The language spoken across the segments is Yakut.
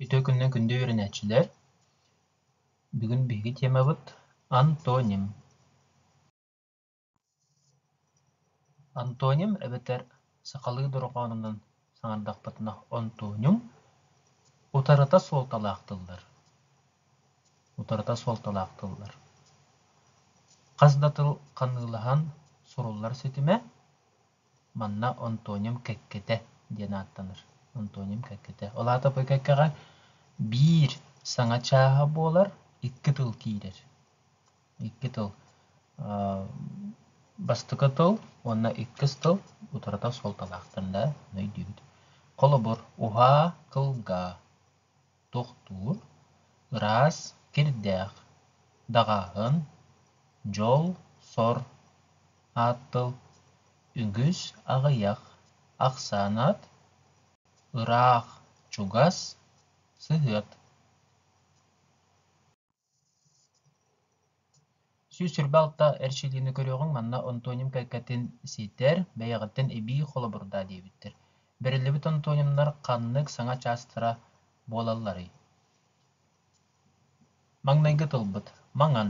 Үтүө күннэн күндү үөрэнээччилэр! Бүгүн биһиги тиэмабыт антоним. Антоним эбэтэр сахалыы дорҕоонунан саҥардахпытына онтониум утарыта суолталаах тыллар. Утарыта суолталаах тыллар. Хас да тыл ханыылаһан суруллар ситимэ Манна Антоним кэккэтэ диэн ааттанар. Антоним кэккэтэ. Ол аата бу кэккэҕэ биир саҥа чааһа буолар, икки тыл киирэр. Икки тыл. бастакы тыл уонна иккис тыл утарыта суолталаахтар да өйдүүбүт. Холобур, уһаа кылгаа. тохтуур, ыраас, кирдээх, даҕааһын, дьол-сор, ааттал, үгүс аҕыйах, ахсаан аат, ыраах, чугас, сыһыат сүүс сirba алта эрчилиини көрүөҕүҥ манна антоним кэккэтин сийтэр бэйэҕиттэн эбии холобурдаа диэбиттэр бэриллибит антонимнар ханнык саҥа чаастара буолалларый маҥнайгы тылбыт маҥан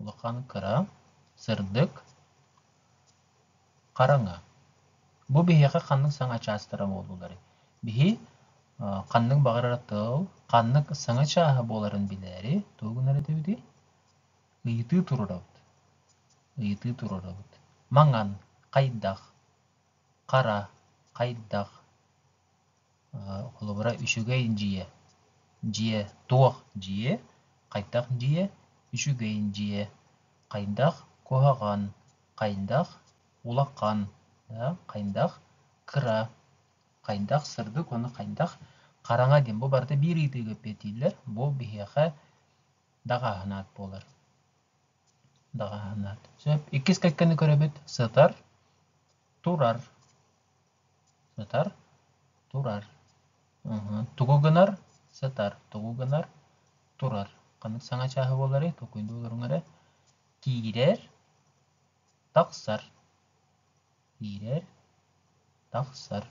улахан кыра, сырдык, хараҥа. Бу биһиэхэ ханнык саҥа чаастара буолууларый? Биһи ханнык баҕарар тыл, ханнык саҥа чааһа буоларын билээри тугу гынар этибитий? Ыйытыы турарабыт. Ыйытыы турарабыт. Маҥан хайдах? Хара хайдах? холобура үчүгэй дьиэ дьиэ туох дьиэ хайдах дьиэ үчүгэй дьиэ хайдах куһаҕан хайдах улахан хайдах кыра хайдах сырдык уонна хайдах хараҥа диэн бу барыта биир ыйытыыга эппиэтииллэр бу биһиэхэ даҕааһынаат буолар даҕааһынаат сөп иккис кэккэни көрөбүт сытар турар сытар турар тугу гынар сытар тугу гынар турар ханнык саҥа чааһы буоларый толкуйдуу олоруҥ эрэ киирэр тахсар киирэр тахсар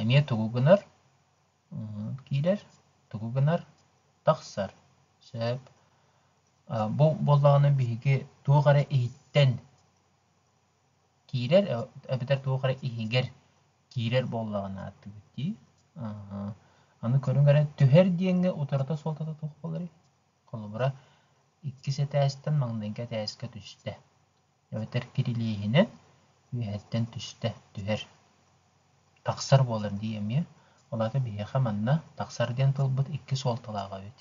эмиэ тугу гынар киирэр тугу гынар тахсар сөп бу буоллаҕына биһиги туох эрэ иһиттэн киирэр эбэтэр туох эрэ иһигэр киирэр буоллаҕына ааттыыбыт дии аны көрүҥ эрэ түһэр диэҥҥэ утарыта суолтата туох буоларый холобура иккис этээстэн маҥнайгы этээскэ түстэ эбэтэр кирилиэһинэн үөһэттэн түстэ түһэр тахсар буолар дии эмиэ ол аата биһиэхэ манна тахсар диэн тылбыт икки суолталаах эбит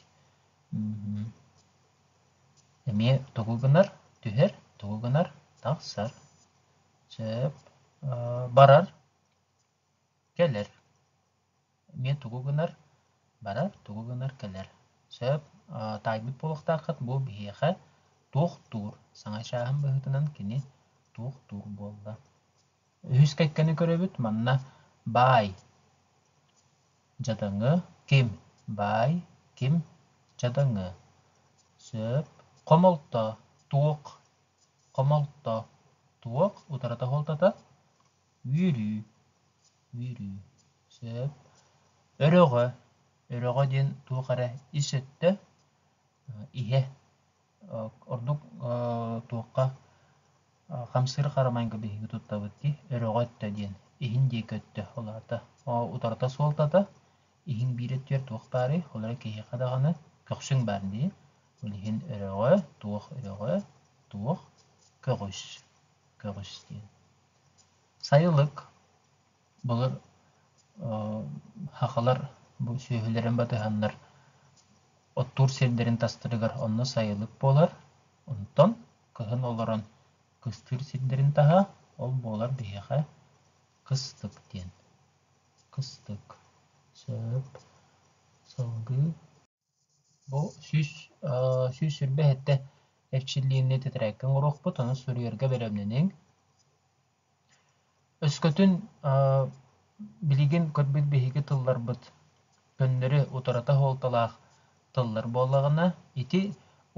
эмиэ тугу гынар түһэр тугу гынар тахсар сөп барар кэлэр эмиэ тугу гынар барар тугу гынар кэлэр сөп таайбыт буолуохтааххыт бу биһиэхэ туохтуур саҥа чааһым быһыытынан кини туохтуур буолла Үһүс кэккэни көрөбүт манна баай дьадаҥы ким баай ким дьадаҥы сөп хомолто туох хомолто туох утарата холтото үөрүү үөрүү сөп өрөҕө өрөҕө диэн туох эрэ ис өттө иһэ Ордук туохха хамсыыр харамайга биһиги туттабыт дии, өрөҕө өттө диэн. Иһин диэки өттө улаата. Утарыта суолтата, иһиҥ биир өттүгэр туох баарый, ол эрэн киһиэхэ даҕаны көхсүҥ баар дии. Ол иһин өрөҕө, туох өрөҕө, туох көҕүс, көҕүс диэн. Сайылык Былыр сахалар бу сүөһүлэрин батыһаннар оттуур сирдэрин тастарыгар онно сайылык буолар. Онтон кыһын олорон кыстыыр сирдэрин таһа, ол буолар биһиэхэ кыстык диэн. Кыстык, сөп, салгыы Бу сүүс сүүс сүүрбэ сэттэ эрчиллиини тэтэрээккэ оҥоруохпут, ону суруйарга бэлэмнэниҥ. Өскөтүн билигин көрбүт биһиги тылларбыт көннөрү утарыта суолталаах тыллар буоллаҕына, ити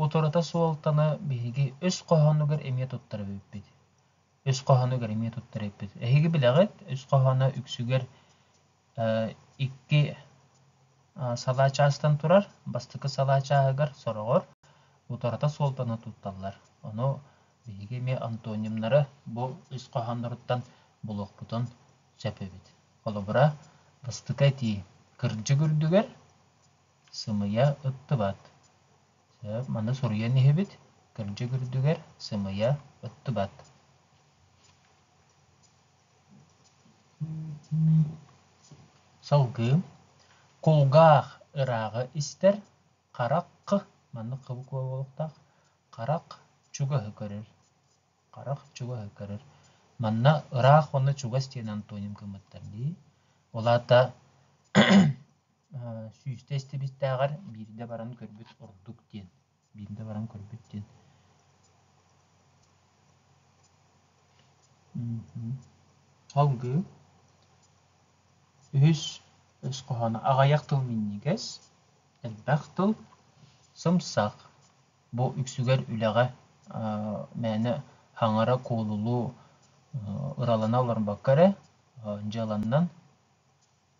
утарыта суолтаны биһиги өс хоһоонугар эмиэ туттар эбиппит. Өс хоһоонугар эмиэ туттар эбиппит. Эһиги билэҕит, өс хоһооно үксүгэр икки салаа чаастан турар бастакы салаа чааһыгар сороҕор утарыта суолтаны тутталлар ону биһиги эмиэ антонимнары бу ис хоһоонноруттан булуохпутун сөп эбит холобура бастакы этии кырдьык үрдүгэр сымыйа ыттыбат маны суруйан иһибит кырдьык үрдүгэр сымыйа ыттыбат Салгыы кулгаах ырааҕы истэр харах маннык буолуохтаах харах чугаһы көрөр харах чугаһы көрөр манна ыраах уонна чугас диэн антоним гыммыттар дии ол аата сүүстэ истибиттээҕэр биирдэ баран көрбүт ордук диэн биирдэ баран көрбүт диэн салгыы үһүс өс хоһооно аҕайах тыл минньигэс элбэх тыл сымсах бу үксүгэр үлэҕэ мээнэ хаҥара куолулуу ыралана олорбокко эрэ дьыаланнан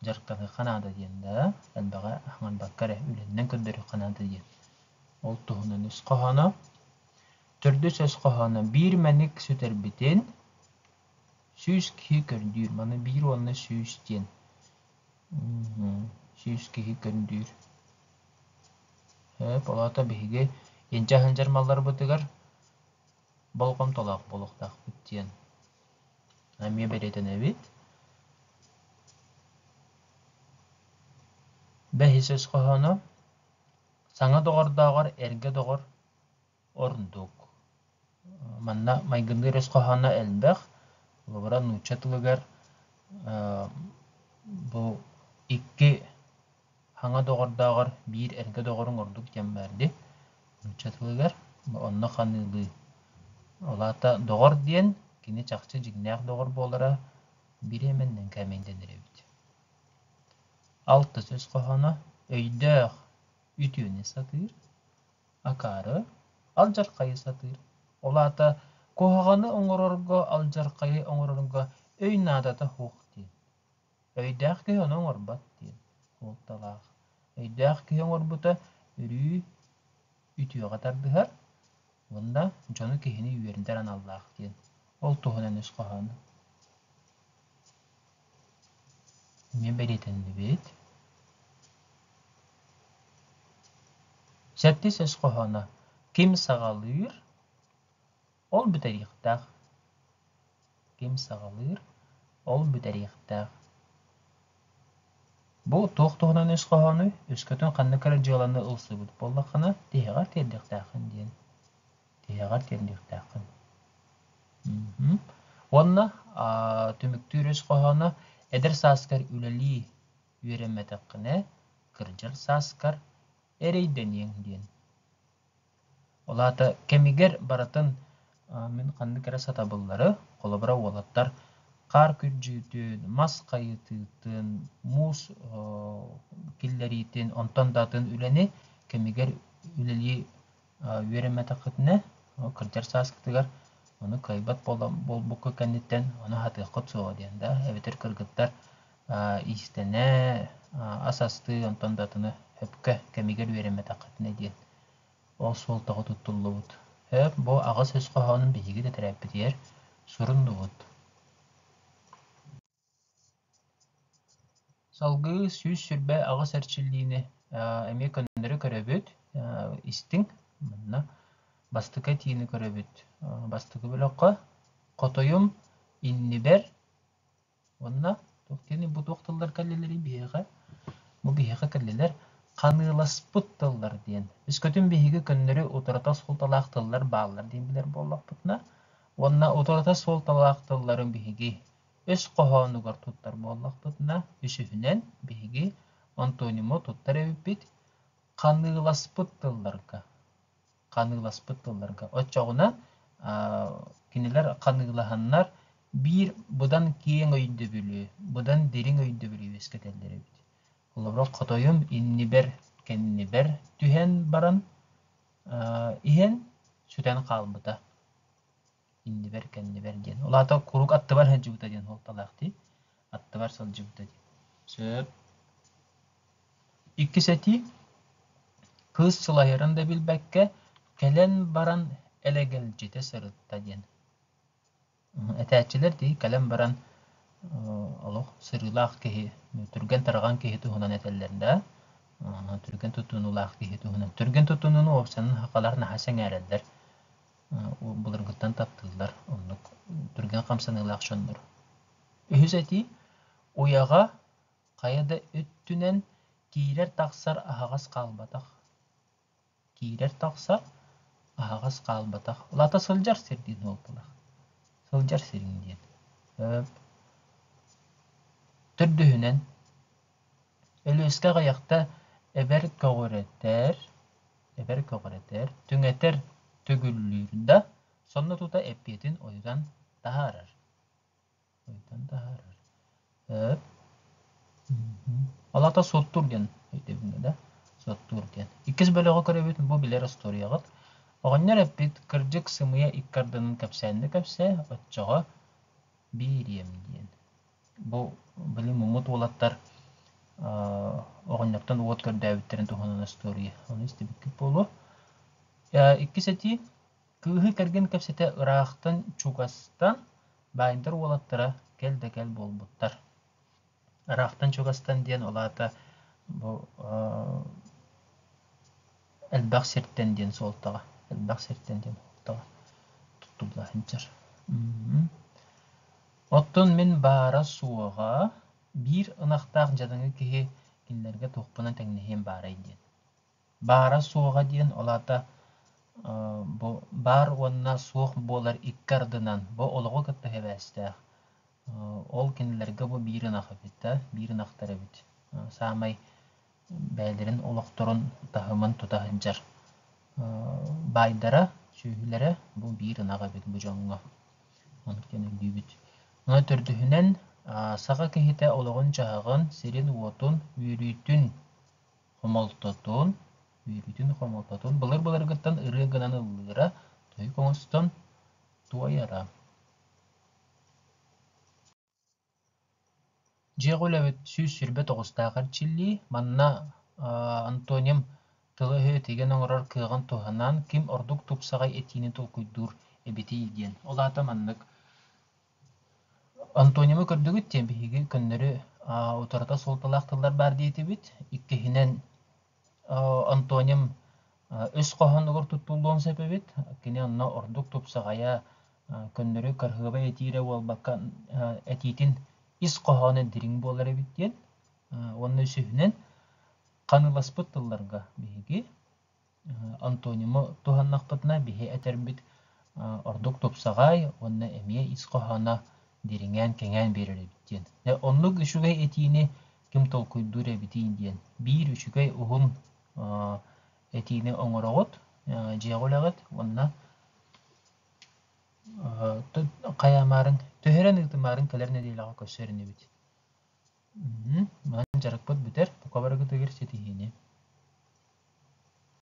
дьарыктаныахха наада диэн да элбэҕи аҥарбакка эрэ үлэннэн көрдөрүөххэ наада диэн. Ол туһунан үс хоһооно, төрдүс өс хоһооно биир мэник сүтэрбитин сүүс киһи көрдүүр. Маны биир уонна сүүс диэн сүүс киһи көрдүүр. Өп олото биһиги инчэ сылдьар малларбытыгар болҕомтолоох буолуохтаахпыт диэн эмиэ бэлиэтэнэбит бэһисөс хоһооно саҥа доҕордооҕор эргэ доҕор ордук манна майгынныыр өс хоһооно элбэх холобура нуучча тылыгар бу икки Хаҥа доҕордооҕор биир эргэ доҕоруҥ ордук диэн баардыы нууччатылыгар онно ханыылыы. Ол аата доҕор диэн кини чахчы дьиҥнээх доҕор буолара бириэмэ аннынан кээмэйин дэнэр эбит. Алтыс үс хоһооно өйдөөх үтүөнү сатыыр, акаары алдьархайы сатыыр. Ол аата куһаҕаны оҥорорго, алдьархайы оҥорорго өй наадата суох диэн. Өйдөөх киһи ону оҥорбот диэн суолталаах. Өйдөөх киһи оҥорбута өрүү үтүөҕэ тардыһар, уонна дьону киһини үөрэтэр аналлаах диэн. Ол туһунан үс хоһоону эмиэ бэлиэтэннибит. Сэттис өс хоһооно Ким саҕалыыр? Ол бүтэриэхтээх. Ким саҕалыыр, ол бүтэриэхтээх. Бу туох туһунан үс хоһоону, үскөтүн ханнык эрэ дьыаланы ылсыбыт буоллаххына, тиһэҕэр тиэрдиэхтээххин диэн. Тиһэҕэр тиэрдиэхтээххин. Мм. Уонна аа, түмүктүүр үс хоһооно эдэр сааскар үлэлии үөрэммэтэххинэ, кырдьар сааскар эрэйдэниэҥ диэн. Ол аата кэмигэр барытын мин ханнык эрэ сатабыллары, холобура, уолаттар хаар күрдьүүтүн, мас хайытыытын, муус киллэриитин, онтон да атын үлэни кэмигэр үлэлии үөрэммэтэххитинэ, кырдьар сааскытыгар ону кыайбат буолбуккут кэнниттэн ону аһатыаххыт суоҕа диэн да эбэтэр кыргыттар иистэнэ, ас астыы, онтон да атыны өпкө кэмигэр үөрэммэтэххитинэ диэн ол суол тоҕо туттуллубут. Өп бу аҕыс өс хоһоонун биһиги да төрөөппүтүгэр суруннубут. Салгыы сүүс сүрбэ аҕыс эрчиллиини эмиэ көннөрү көрөбүт, истиҥ. Манна бастакы этиини көрөбүт. Бастакы бөлөххө хотойум иннибэр Уонна туох диэни бу туох тыллар кэллилэрий биһиэхэ? Бу биһиэхэ кэллилэр ханыыласпыт тыллар диэн. Өскөтүн биһиги көннөрү утарыта суолталаах тыллар бааллар диэн билэр буоллахпытына, уонна утарыта суолталаах тылларын биһиги өс хоһоонугар туттар буоллахпытына, үсүһүнэн биһиги антониму туттар эбиппит ханыыласпыт тылларга. ханыыласпыт тылларга. Оччоҕуна кинилэр ханыылаһаннар биир быдан киэҥ өйдөбүлү, быдан дириҥ өйдөбүлү үөскэтэллэр эбит. Холобура, хотойум иннибэр, кэннибэр түһэн баран иһэн сүтэн хаалбыта. иннибэр кэннибэр диэн ол аата куруук аттыбар сылдьыбыта диэн суолталаах дии аттыбар сылдьыбыта дии сөп иккис этии кыыс сылайарын да билбэккэ кэлэн баран элэгэлдьитэ сырытта диэн этээччилэр дии кэлэн баран олох сырыылаах киһи түргэн тарҕан киһи туһунан этэллэр да түргэн тутунуулаах киһи туһунан түргэн тутунууну уопсанан хахалар наһаа сэҥээрэллэр былыргыттан таптыыллар оннук түргэн хамсаныылаах дьоннор. Үһүс этии уйаҕа хайа да өттүнэн киирэр-тахсар аһаҕас хаалбатах. Киирэр-тахсар аһаҕас хаалбатах. Лата сылдьар сир диэн уолталаах. Сылдьар сирин диэн. Төрдүһүнэн Өлүөскэ аҕыйахта эбэр көҕүрэтэр, эбэр көҕүрэтэр, түҥэтэр, төгүллүүр да, сонно тута эппиэтин ойутан таһаарар. Ойутан таһаарар. Өр. Алата суоттуур диэн өйдөбүҥҥэ да суоттуур диэн. Иккис бөлөҕү көрөбүт бу билэр остуоруйаҕыт. Оҕонньор эппит кырдьык сымыйа икки ардынын кэпсээн да кэпсээ, оччоҕо биириэм диэн. Бу били муммут уолаттар оҕонньоттон уот көрдөөбүттэрин туһунан остуоруйа ону истибиккит буолуо. Иккис этии кыыһы кэргэн кэпсэтэ ыраахтан чугастан баайдар уолаттара кэл да кэл буолбуттар. Ыраахтан чугастан диэн ол аата бу элбэх сиртэн диэн суолтаҕа элбэх сиртэн диэн суолтаҕа туттулла сылдьар Оттон мин баара-суоҕа, биир ынахтаах дьадаҥы киһи кинилэргэ туохпунан тэҥнэһиэм баарай диэн. Баара-суоҕа диэн ол аата бу баар уонна суох буолар икки ардынан бу олоҕу кытта сибээстээх ол кинилэргэ бу биир ынах эбит да, биир ынахтар эбит. Саамай бэйэлэрин олохторун таһымын тута сылдьар баайдара, сүөһүлэрэ бу биир ынах эбит бу дьоҥҥо. Онтон өйдүүбүт. Аны төрдүһүнэн, саха киһитэ олоҕун-дьаһаҕын, сирин-уотун, үөрүүтүн хомолтотун, үөрүүтүн хомолтотун былыр-былыргыттан ырыа гынан ыллыыра, тойук оҥостон туойара. Дьиэҕэ үлэбит сүүс сүүрбэ тоҕустаах эрчиллии. Манна Антоним тылы-өһү тигэн оҥорор кыаҕын туһанан ким ордук тупсаҕай этиини толкуйдуур эбитий диэн. Ол аата маннык. Антонимы көрдүгүт диэн биһиги көннөрү утарыта суолталаах тыллар баар диэтибит. Иккиһинэн Антоним үс хоһоонугар туттуллуон сөп эбит. Кини онно ордук тупсаҕайа, көннөрү кырыһыабай этиирэ буолбакка, этиитин ис хоһооно дириҥ буолар эбит диэн уонна үсүһүнэн ханыыласпыт тылларга биһиги антониму туһаннахпытына биһи этэрбит ордук тупсаҕай уонна эмиэ ис хоһооно дириҥээн кэҥээн биэрэр эбит диэн. Оннук үчүгэй этиини ким толкуйдуур эбитий диэн. Биир үчүгэй уһун этиини оҥороҕут, дьиэҕэ үлэҕит уонна хайаамаарыҥ, төһөрөн ыытымаарыҥ кэлэр нэдиэлэҕэ көрсөр инибит. Манан дьарыкпыт бүтэр, бука барыгытыгар ситиһиини.